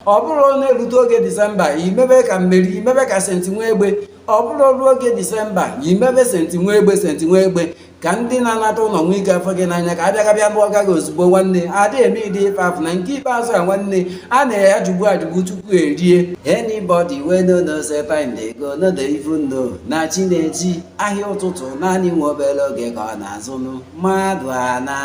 ọ bụrụ na-erute oge disemba imebe ka meri imebe ka senti nwa egbe ọ bụrụ ruo oge disemba imebe senti nwa egbe senti nwa egbe ka ndị na-anata ụlọ nwee ike afụ gị n'anya ka abịa gabịa lụọ gị ozugbo nwanne adị eme ụdị ife afụ na nke ikpeazụ a nwanne a na-eyi ajụgbu ajụgbu tupu erie anybody wey no know say time dey go no dey even know na chi na-eji ahịa ụtụtụ naanị nwa obere oge ka ọ na-azụ ndị mmadụ ana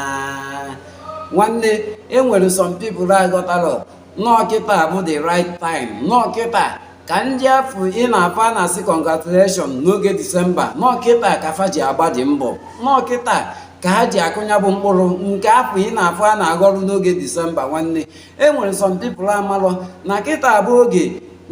nwanne enwere some people aghọtarọ na ọ kịta bụ the right time na ọ kịta ka ndị afụ ị na-afụ a na-asị congratulation n'oge disemba na ọ kịta ka fa ji agbadị mbọ na ọ kịta ka ha ji akụ nya bụ mkpụrụ nke afụ ị na-afụ a na-aghọrụ n'oge disemba nwanne e nwere some people amarọ na kịta bụ oge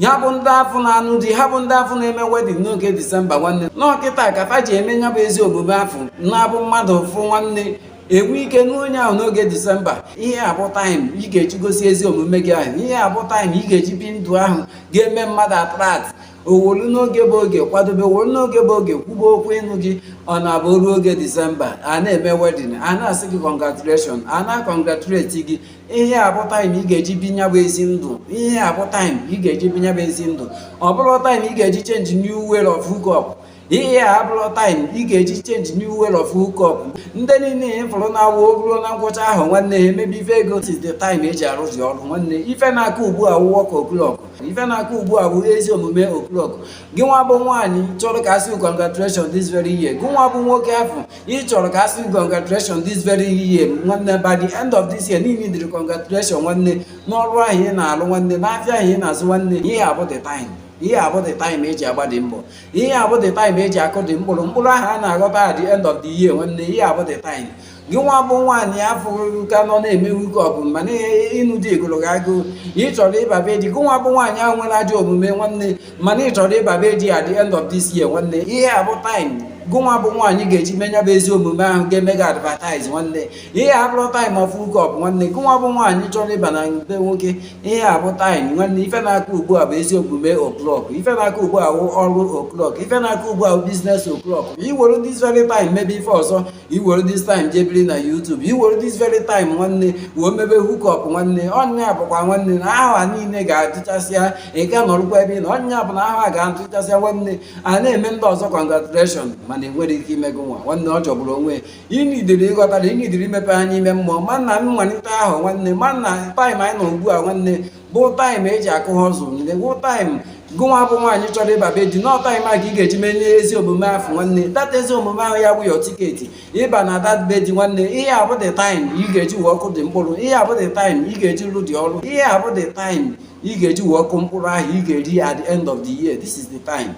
ha bụ ndị afụ na-anụ di ha bụ ndị afụ na-eme wedin n'oge disemba nwanne na ọ kịta ka fa ji eme nya bụ ezi omume afụ na-abụ mmadụ fụ nwanne e nwee ike nụọ onye ahụ n'oge disemba ihe a bụ taịm ị ga-eji gosi ezi omume gị ahụ ihe a bụ taịm ị ga-eji bi ndụ ahụ ga-eme mmadụ atrat o wolu n'oge bụ oge kwadobe o wolu n'oge bụ oge kwube okwu ịnụ gị ọ na-abụ o ruo oge disemba a na-eme wedin a na-asị gị kọngratuleshọn a na-akọngratuleti gị ihe a bụ taịm ị ga-eji bi nya bụ ezi ndụ ihe a bụ taịm ị ga-eji bi nya bụ ezi ndụ ọ bụrọ taịm ị ga-eji chenji new way of hookup ihe a abụrọ taịm ị ga-eji chenji new way of hookup ndị niile ị fụrụ na-awụ o ruo na ngwụcha afọ nwanne ha emebe ife ego si the time eji arụzi ọrụ nwanne ife na-akụ ugbu a wụ wọk oklọk ife na-akụ ugbu a bụ ezi omume oklọk gị nwa bụ nwaanyị chọrọ ka a sị congratulation this very year gị nwa bụ nwoke afụ ị chọrọ ka a sị congratulation this very year nwanne by the end of this year niile dịrị congratulation nwanne n'ọrụ ahụ ị na-alụ nwanne n'afịa ahụ ị na-azụ nwanne ihe a bụ the time ihe a bụ the time eji agbadị mbọ ihe a bụ the time eji akụdị mkpụrụ mkpụrụ ahụ a na-aghọta at the end of the year nwanne ihe a bụ the time gị nwa bụ nwaanyị afụ ka nọ na-eme hookup mana ịnụ di gụrụ gị agụụ ị chọrọ ịba be di gị nwa bụ nwaanyị ahụ nwere ajọ omume nwanne mana ị chọrọ ịba be di at the end of this year nwanne ihe a bụ time gị nwa bụ nwaanyị ga-eji me nya bụ ezi omume ahụ ga-eme gị advertise nwanne ihe a abụrọ time of hookup nwanne gị nwa bụ nwaanyị chọrọ ịba na be nwoke ihe a bụ taịm nwanne ife na-akụ ugbu a bụ ezi omume oklọk ife na-akụ ugbu a ọrụ oklọk ife na-akụ ugbu a biznes oklọk i were dis very time mebe ife ọzọ i were dis time jee biri na YouTube i were dis very time nwanne wee mebe hukọp nwanne ọ nya bụkwa nwanne na aha niile ga-agwụchasịa ị ka nọrụkwa ebe ị nọ ọ nya bụ na aha ga-agwụchasịa nwanne a na-eme ndị ọzọ congratulation mana enwerọ ike ime gị nwa nwanne ọ jọgburu onwe ị needịrị ịghọta na ị needịrị imepe anya ime mmụọ ma na mmalite afọ nwanne ma na time anyị nọ ugbu a nwanne bụ time e ji akụ ha ọzọ nne bụ time gịnwa bụ nwaanyị chọrọ ịba be di na ọ time a ka ị ga-eji menye ezi omume ahụ nwanne dat ezi omume ahụ ya bụ ya ticket ịba na dat be di nwanne ihe a bụ the time ị ga-eji wee kụọ the mkpụrụ ihe a bụ the time ị ga-eji rụọ the ọrụ ihe a bụ the time ị ga-eji wee kụọ mkpụrụ ahụ ị ga-eri at the end of the year this is the time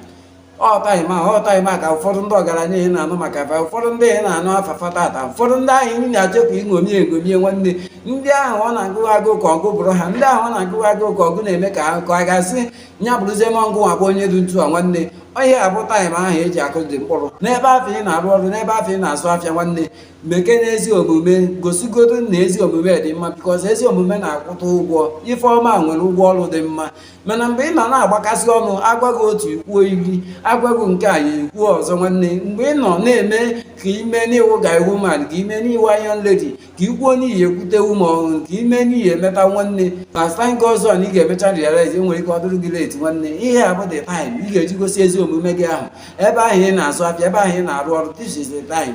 ọtaghị ma ọtaghị ma ka ụfọdụ ndị ọgaranya ị na-anụ maka afa ụfọdụ ndị ị na-anụ afa fa tata ụfọdụ ndị ahụ ị na-achepụ iṅomi eṅomi nwanne ndị ahụ ọ na-agụ agụụ ka ọ gị bụrụ ha ndị ahụ ọ na-agụ agụụ ka ọ gị na-eme ka akụkọ a ga-asị nya bụrụzie ma gịnwa bụ onye dị etu a nwanne ihe a bụ time ahụ e ji akụ the mkpụrụ n'ebe ahụ ị na-arụ ọrụ n'ebe ahụ ị na-azụ afịa nwanne mekene ezi omume gosigodo na ezi omume dị mma because ezi omume na-akwụta ụgwọ ife ọma nwere ụgwọ ọrụ dị mma mana mgbe ị nọ na-agbakasị ọnụ a gwa gị otu i kwuo iri a gwa gị nke a i kwuo ọzọ nwanne mgbe ị nọ na-eme ka i mee na ị wụ guy woman ka i mee na ị wụ iron lady ka i kwuo n'ihi ekwute ume ọhụrụ ka i mee n'ihi emeta nwanne ma stank ọzọ na ị ga-emecha realize e nwere ike ọ dịrị gị late nwanne ihe a bụ the time ị ga-eji gosi ezi omume gị ahụ ebe ahụ ị na-azụ afịa ebe ahụ ị na-arụ ọrụ this is the time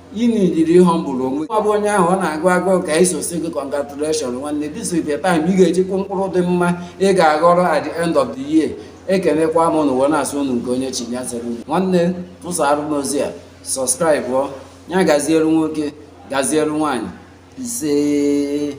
Ị needịrị ị humble onwe ọ bụ onye ahụ ọ na-agụ agụụ ka anyị so sị gị congratulation nwanne this is the time ị ga-eji kụọ mkpụrụ dị mma ị ga-aghọrọ at the end of the year ekenekwa m unu wee na-asị unu nke onye chi ya zeere unu nwanne tụsara m ozi a subscribe ọ ya gaziere nwoke gaziere nwaanyị isee